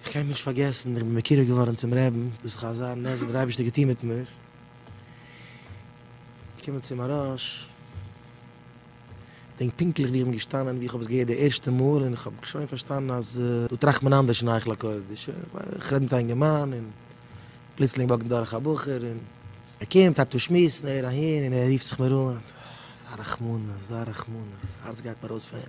איך קען נישט פארגעסן איך בין מקורב געווארן צום רעבן, דאס איז חזר נס וואס דער אייבערשטער האט געטון מיט מיך, געקומען צום מהרש, געדענק פונקטליך ווי איך בין געשטאנען ווי איך האב עס געהערט די ערשטע מאל און איך האב שוין פארשטאנען אז דא טראכט מען אנדערש אין היכל הקודש, איך רעד מיט א אינגערמאן און פלוצלינג וואקט מיר דורך א בחור און ער קומט הייבט אן שמועסן ער אהין און ער רופט זיך מיר אן, אזא רחמנות אזא רחמנות, הארץ גייט מיר אויס פון אים.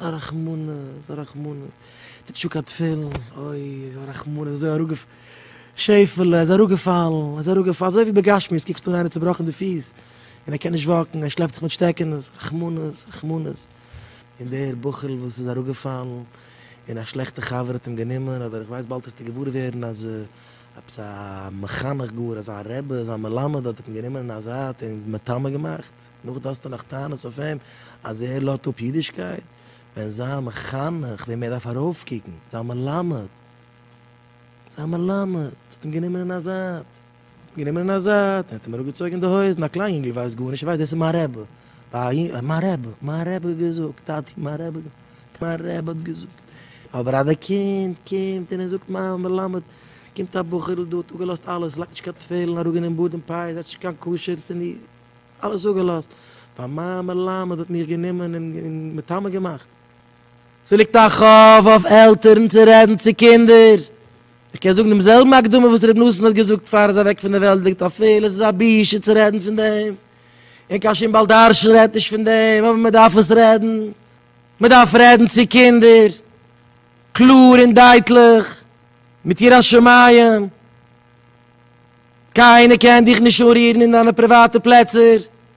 א רחמנא איז א רחמנא, טוט נישט אן קיין תפילין, אוי איז א רחמנא, איז אזוי אראפגע, שעפעלע איז אראפגעפאלן, איז אראפגעפאלן, אזוי ווי בגשמיות קוקסטו אן איינער צובראכן די פיס, און ער קען נישט וואקן, ער שלעפט זיך מיט שטעקענעס, רחמנא, רחמנא, און דער בחור'ל וואס איז אראפגעפאלן, און א שלעכטע חבר האט אים גענומען, אדער איך ווייס באלד וועסטו געוואר ווערן אז עפעס א מחנך גאר, אזא רבי, אזא מלמד האט אים גענומען אין א זייט און מטמא געמאכט. נאך דאס האסטו נאך טענות אויף אים אז ער לאט אפ אידישקייט, ווען זיין מחנך וועם ער דארף ארויפקוקן, זיין מלמד, זיין מלמד האט אים גענומען אין א זייט, גענומען אין א זייט, ער האט אים אראפגעצויגן די הויזן, א קליין יונגל ווייסט גארנישט, ער ווייסט דאס איז מיין רבי, מיין רבי, מיין רבי האט געזאגט, טאטי מיין רבי האט געזאגט, מיין רבי האט געזאגט, אבער אז די קינד קומט און ער זאגט מיין מלמד, קומט א בחור'ל דא האט אפגעלאזט אלעס, לייגט נישט קיין תפילין, אראפגענומען בארד און פאות, עסט נישט קיין כשר, ס'נישט. אלעס אפגעלאזט, ווייל מיין מלמד האט מיך גענומען און מטמא געמאכט. ס'ליגט א חוב אויף עלטערן צו רעדן צו קינדער. איך קען זאגן דעם זעלבן הקדמה וואס רבי נתן האט געזאגט פאר ער איז אוועק פון דער וועלט ליגט א פלא ס'איז א בושה צו רעדן פון דעם און קיין שום בעל דרשן רעדט נישט פון דעם אבער מען דארף עס רעדן מען דארף רעדן צו קינדער קלאר און דייטליך מיט יראת שמים קיינער קען דיך נישט אנרירן אין דיינע פריוואטע פלעצער,